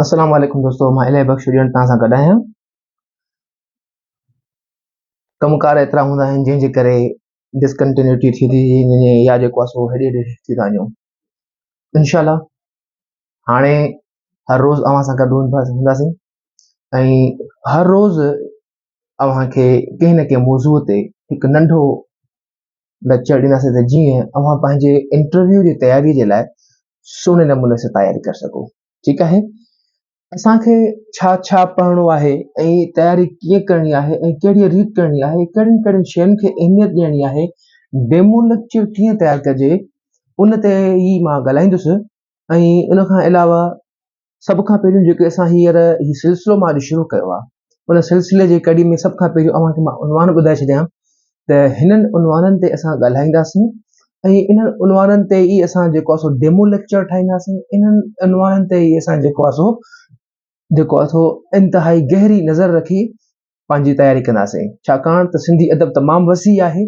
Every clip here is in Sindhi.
السلام عليڪم دوستو مان الهي بخش ڏيڻ توهان سان گڏ آهيان ڪمڪار ايترا هوندا آهن جنهن جي ڪري ڊسڪنٽينيوٽي ٿي ٿي وڃي يا جيڪو آسو هيڏي هيڏي ٿي ٿا وڃو انشاء الله هاڻي هر روز اوهان سان گڏ هونداسين ۽ هر روز اوهان کي ڪنهن نه ڪنهن موضوع تي هڪ ننڍو ليڪچر ڏينداسين ته جيئن اوهان پنهنجي انٽرويو جي تياري جي لاء سهڻي نموني سان تياري ڪري سگهو ٺيڪ آهي اسانکي ڇا ڇا پڙهڻو آهي ۽ تياري ڪيئن ڪرڻي آهي ۽ ڪهڙي ريت ڪرڻي آهي ڪهڙين ڪهڙين شين کي اهميت ڏيڻي آهي ڊيمو ليڪچر ڪيئن تيار ڪجي ان تي ئي مان ڳالهائيندس ۽ ان کان علاوه سڀ کان پهريون جيڪي اسان هينئر هي سلسلو مان اڄ شروع ڪيو آهي ان سلسلي جي ڪڙي ۾ سڀ کان پهريون اوهان کي مان عنوان ٻڌائي ڇڏيان ته هنن عنوانن تي اسان ڳالهائينداسين ۽ انهن عنوانن تي ئي اسان جيڪو آهي سو ڊيمو ليڪچر ٺاهينداسين انهن عنوانن تي ئي اسان جيڪو آهي سو جيڪو آهي سو انتهائي گهري نظر رکي پنهنجي تياري ڪنداسين ڇاڪاڻ ته سنڌي ادب تمام وسيع آهي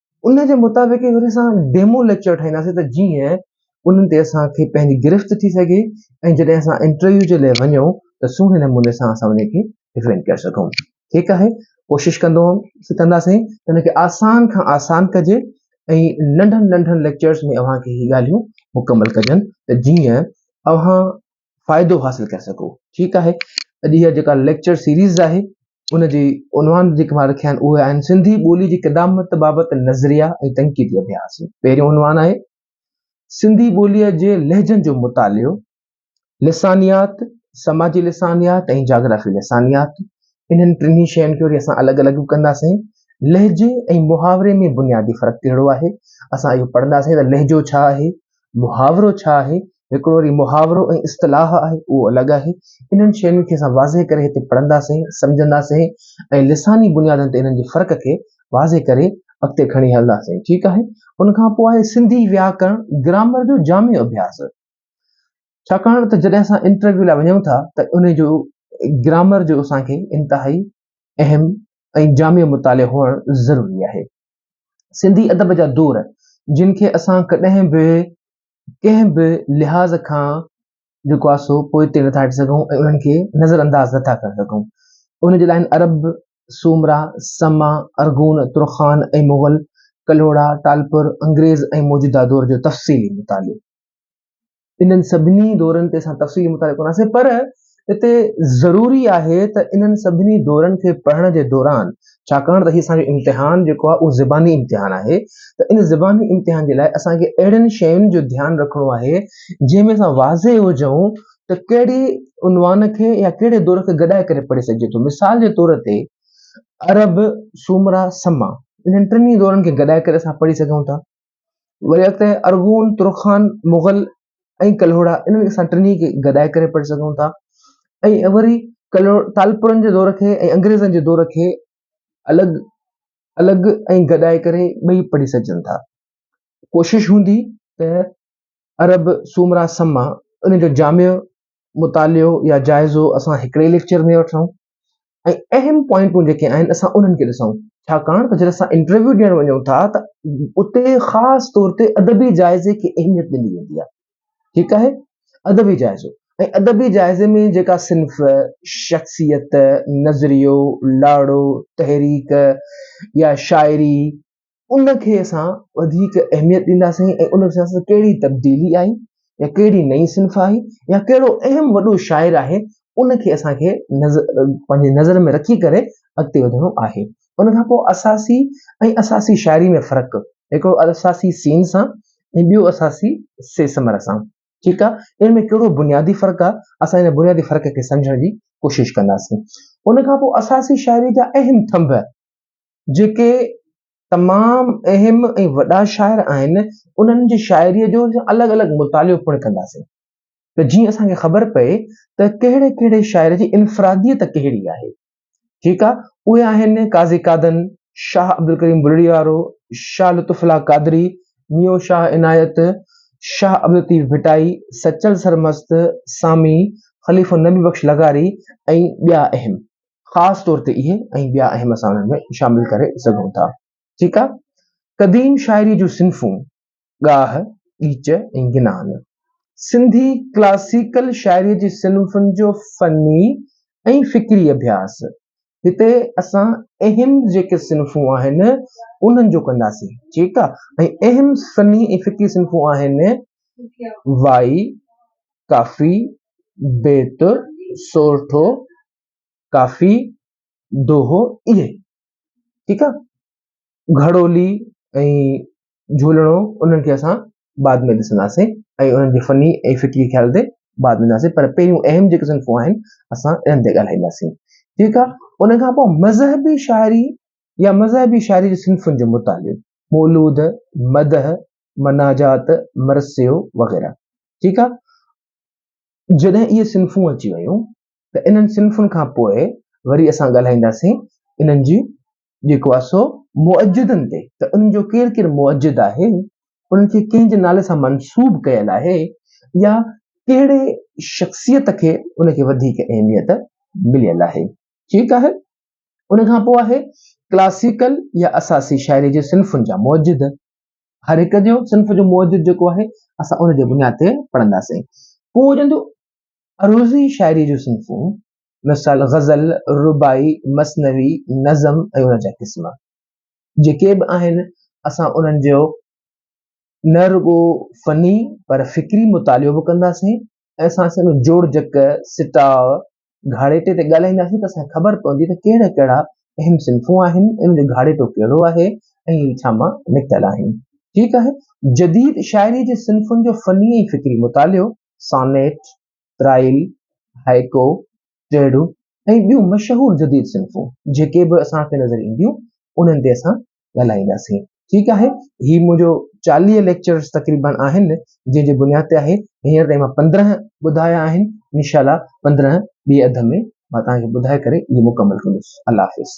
ان جي مطابق وري اسان ڊيمو ليڪچر ٺاهينداسين ته جيئن انهن تي اسان کي پنهنجي گرفت ٿي سگهي ۽ جڏهن اسان انٽرويو جي لاء وڃون ته سهڻي نموني سان اسان ان کي ڊفينڊ ڪري سگهون ٺيڪ آهي ڪوشش ڪندو ڪنداسين ته ان کي آسان کان آسان ڪجي ۽ ننڍن ننڍن ليڪچرس ۾ اوهان کي هي ڳالهيون مڪمل ڪجن ته جيئن اوهان فائدو حاصل ڪري سگهو. ٺيڪ آهي اڄ اها جيڪا ليڪچر سيريز آهي ان جي عنوان جيڪي مان رکيا آهن اهي آهن سنڌي ٻولي جي قدامت بابت نظريا ۽ تنقيدي اڀياس. پهريون عنوان آهي سنڌي ٻوليء جي لهجن جو مطالعو، لسانيات، سماجي لسانيات ۽ جاگرافي لسانيات. انهن ٽنهي شين کي وري اسان الڳ الڳ به ڪنداسين. لهجي ۽ محاوري ۾ بنيادي فرق ڪهڙو آهي؟ اسان اهو پڙهنداسين ته لهجو ڇا آهي؟ محاورو ڇا آهي، هڪڙو وري محاورو ۽ اصطلاح آهي اهو الڳ آهي. انهن شين کي اسان واضح ڪري هتي پڙهنداسين، سمجهنداسين ۽ لساني بنيادن تي انهن جي فرق کي واضح ڪري اڳتي کڻي هلنداسين ٺيڪ آهي. ان کان پوء آهي سنڌي وياڪرڻ گرامر جو جامع اڀياس. ڇاڪاڻ ته جڏهن اسان انٽرويو لاء وڃون ٿا ته ان جو گرامر جو اسان کي انتهائي اهم ۽ جامع مطالعو هئڻ ضروري آهي. سنڌي ادب جا دور جن کي اسان ڪڏهن به ڪنهن به لحاظ کان جيڪو آهي سو پوئتي نٿا هٽي سگهون ۽ انهن کي نظر انداز نٿا ڪري سگهون ان جي لاء عرب سومرا سما ارغون ترخان ۽ مغل ڪلهوڙا ٽالپر انگريز ۽ موجوده دور جو تفصيلي مطالعو انهن سڀني دورن تي اسان تفصيلي مطالعو ڪنداسين پر اتي ضروري آهي ته انهن سڀني دورن کي پڙهڻ جي دوران ڇاڪاڻ ته هي اسان جو امتحان جيڪو آهي اهو زباني امتحان آهي ته ان زباني امتحان جي لاء اسان کي اهڙين شين جو ڌيان رکڻو آهي جنهن ۾ اسان واضح هجون ته ڪهڙي عنوان کي يا ڪهڙي دور کي گڏائي ڪري پڙهي سگهجي ٿو مثال جي طور تي عرب سومرا سما انهن ٽنهي دورن کي گڏائي ڪري اسان پڙهي سگهون ٿا وري اڳتي ارغون، ترخان، مغل ۽ ڪلهوڙا انهن اسان ٽنهي کي گڏائي ڪري پڙهي سگهون ٿا ۽ وري ڪلهو ٽالپرن جي دور کي ۽ انگريزن جي دور کي الڳ الڳ ۽ گڏائي ڪري ٻئي پڙهي سگهجن ٿا ڪوشش هوندي ته عرب سومرا سما ان جو جامع مطالعو يا جائزو اسان هڪڙي ليڪچر ۾ وٺون ۽ اهم پوائنٽون جيڪي آهن اسان انهن کي ڏسون ڇاڪاڻ ته جڏهن اسان انٽرويو ڏيڻ وڃون ٿا ته اتي خاص طور تي ادبي جائزي کي اهميت ڏني ويندي آهي ٺيڪ آهي ادبي جائزو ۽ ادبي جائزي ۾ جيڪا صنف شخصيت نظريو لاڙو تحريڪ يا شاعري ان کي اسان وڌيڪ اهميت ڏينداسين ۽ ان سان اسان ڪهڙي تبديلي آئي يا ڪهڙي نئين صنف آئي يا ڪهڙو اهم وڏو شاعر آهي ان کي اسان کي نظر پنهنجي نظر ۾ رکي ڪري اڳتي وڌڻو آهي ان کان پوء اساسي ۽ اساسي شاعري ۾ فرق هڪڙو اساسي سين سان ۽ ٻيو اساسي سي سمر سان ٺيڪ آهي ان ۾ ڪهڙو بنيادي فرق آهي اسان ان بنيادي فرق کي سمجهڻ جي ڪوشش ڪنداسين ان کان پوء اساسي شاعري جا اهم ٿنڀ جيڪي تمام اهم ۽ وڏا شاعر آهن انهن جي شاعري جو الڳ الڳ مطالعو پڻ ڪنداسين ته جيئن اسان کي خبر پئي ته ڪهڙي ڪهڙي شاعر جي انفراديت ڪهڙي آهي ٺيڪ آهي اهي آهن قاضي قادن شاهه عبدالڪريم بلڙي وارو شاهه لطف الله قادري ميو شاهه عنايت شاهه عبدالطيف ڀٽائي سچل سرمست سامي خليفو نبي بخش لغاري ۽ ٻيا اهم خاص طور تي اهي ۽ ٻيا اهم اسان انهن ۾ شامل ڪري سگهون ٿا. ٺيڪ آ. قديم شاعري جون صنفون، ڳاهه، ڳيچ ۽ گنان. سنڌي ڪلاسيڪل شاعري جي صنفن جو فني ۽ فڪري اڀياس. هتي اسان اهم جيڪي صنفون آهن انهن جو ڪنداسين. ٺيڪ آ. ۽ اهم فني ۽ فڪري صنفون آهن، وائي، ڪافي، بيت، سورٺو، ڪافي دوهو اهي ٺيڪ آ گهڙولي ۽ جهولڻو انهن کي اسان بعد ۾ ڏسنداسين ۽ انهن جي فني ۽ فڪري خيال تي بعد ۾ ڏسنداسين پر پهريون اهم جيڪي صنفون آهن اسان انهن تي ڳالهائينداسين ٺيڪ آ ان کان پوء مذهبي شاعري يا مذهبي شاعري جي صنفن جو مطالعو مولود مدح مناجات مرثيو وغيره ٺيڪ آ جڏهن اهي صنفون اچي ويون ته انهن صنفن کان پوء وري اسان ڳالهائينداسين انهن جي جيڪو آهي سو مؤجدن تي ته انهن جو ڪير ڪير مؤجد آهي انهن کي ڪنهن جي نالي سان منسوب ڪيل آهي يا ڪهڙي شخصيت کي ان کي وڌيڪ اهميت مليل آهي ٺيڪ آهي ان کان پوء آهي ڪلاسيڪل يا اساسي شاعري جي صنفن جا مؤجد هر هڪ جو صنف جو مؤجد جيڪو آهي اسان ان جي بنياد تي پڙهنداسين پوء وجندو عروضي شاعريء جون صنفون، مثال غزل، رباعي، مثنوي، نظم ۽ ان جا قسم، جيڪي به آهن، اسان انهن جو نه رڳو فني پر فڪري مطالعو به ڪنداسين ۽ اسان سان جوڙجڪ، سٽاء، گهاڙيٽي تي ڳالهائينداسين ته اسان کي خبر پوندي ته ڪهڙا ڪهڙا اهم صنفون آهن، انهن جو گهاڙيٽو ڪهڙو آهي ۽ اهي ڇا مان نڪتل آهن. ٺيڪ آهي، جديد شاعريء جي صنفن جو فني ۽ فڪري مطالعو. سانيٽ، ترائيل، هائيڪو، ٽيڙو ۽ ٻيون مشهور جديد صنفون جيڪي به اسان کي نظر اينديون انهن تي اسان ڳالهائينداسين ٺيڪ آهي هي منهنجو چاليهه ليڪچرز تقريبن آهن جنهن جي بنياد تي آهي هينئر تائين مان پندرهن ٻڌايا آهن انشاء الله پندرهن ٻي اڌ ۾ مان توهان کي ٻڌائي ڪري اهي مڪمل ڪندس الله حافظ